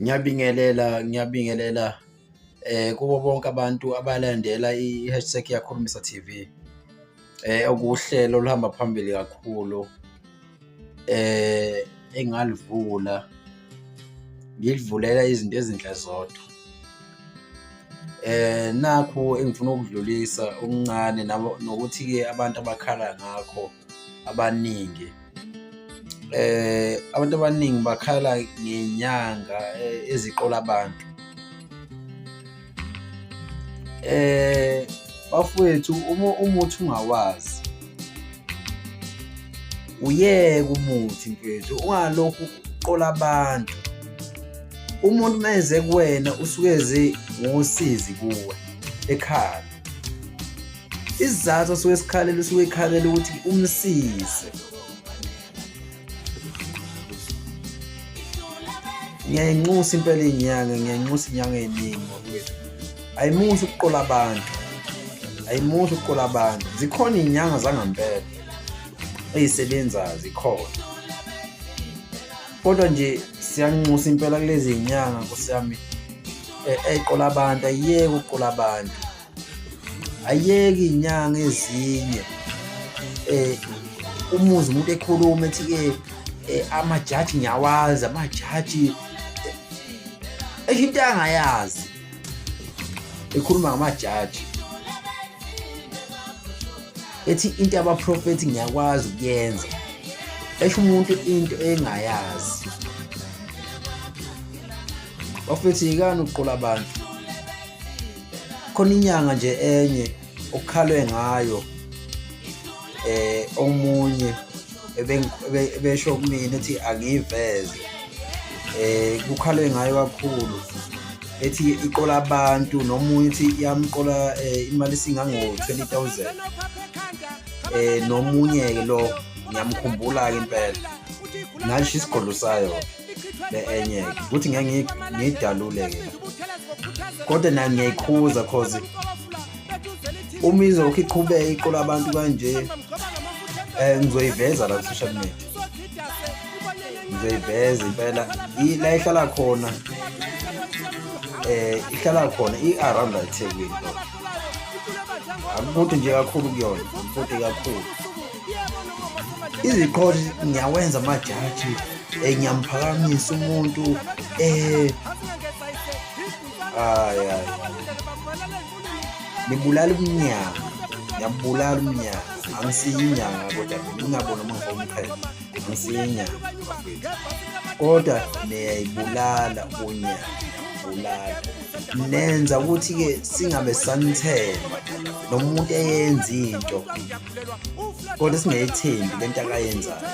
Ngiyabingelela, ngiyabingelela eh kubo bonke abantu abalandela i-hashtag yakhulumisa TV. Eh okuwuhlelo oluhamba phambili kakhulu. Eh engalivula ngilivulela izinto ezinhle zodwa. Eh nakhu engifuna ukudlulisa okuncane nabo nokuthi ke abantu abakhala ngakho. abaningi eh abantu abaningi bakhala ngenyanga eh, eziqola abantu eh bafowethu uma umuthi ungawazi uyeke umuthi mfethu ungalokhu uqola abantu umuntu uma eze kuwena usuke eze ngosizi kuwe ekhaya isizathu osuke esikhalela usuke ekhalela ukuthi umsize ngiyayenxusa impela inyanga ngiyayenxusa inyanga eningi ngokwethu ayimuhle ukuqola abantu ayimuhle ukuqola abantu zikhona inyanga zangampela ezisebenzayo zikhona kodwa nje siyanxusa impela kulezi zinyanga nkosi yami eh, eqola abantu ayiyeke ukuqola abantu ayiyeke izinyanga ezinye eh umuzi umuntu ekhuluma ethi ke eh, amajaji ngiyawazi amajaji eh, esho into angayazi ekhuluma ngamajaji ethi into yabaprofethi ngiyakwazi ukuyenza esho umuntu into engayazi bafethi yikani ukuqola abantu khona inyanga nje enye okukhalwe ngayo eh omunye ebesho kumina ethi angiyiveze eh kukhalwe ngayo kakhulu ethi iqola abantu nomunye ethi iyamqola eh, imali singango 20000 eh nomunye ke lo ngiyamkhumbula ke impela ngasho isigodlo sayo be-enyeke ukuthi ngeke ngiyidalule-ke kodwa nayo ngiyayikhuza cause uma izokhe iqhubeke iqola abantu kanje um ngizoyiveza la ku-social media ngizoyiveza impela la ihlala khona eh ihlala khona i-around ethekwini akukude nje kakhulu kuyona akukude kakhulu iziqholi ngiyawenza amajaji um eh, ngiyamphakamisa umuntu um eh, aya nibulala umnyanga ngiyabulala umnyanga angisiyinyanga kodwa ngingabona uma ngomqhele angisiyinyanga kodwa niyayibulala unyanga niyabulala nenza ukuthi-ke singabe sanithemba nomuntu eyenza into kodwa singeyithembi le nto akayenzayo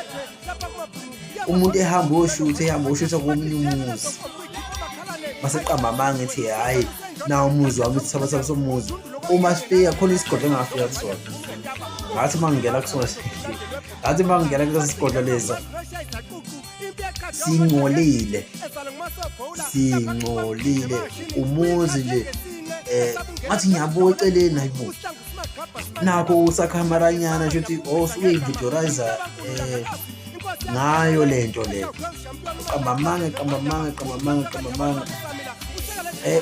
umuntu ehamba oshutha ehamba oshutha komunye umuzi baseqamba amanga ethi hhayi na umuzi wami sithaba sabo somuzi uma sifika khona isigodlo engafika kusona ngathi uma ngingena kusona ngathi uma ngingena kulesi sigodlo lesa singcolile singcolile umuzi nje eh ngathi ngiyabuka eceleni hayibo nakho usakhamaranyana nje ukuthi osuyividorayiza oh, eh ngayo lento le qamba manga qamba manga qamba manga qamba manga eh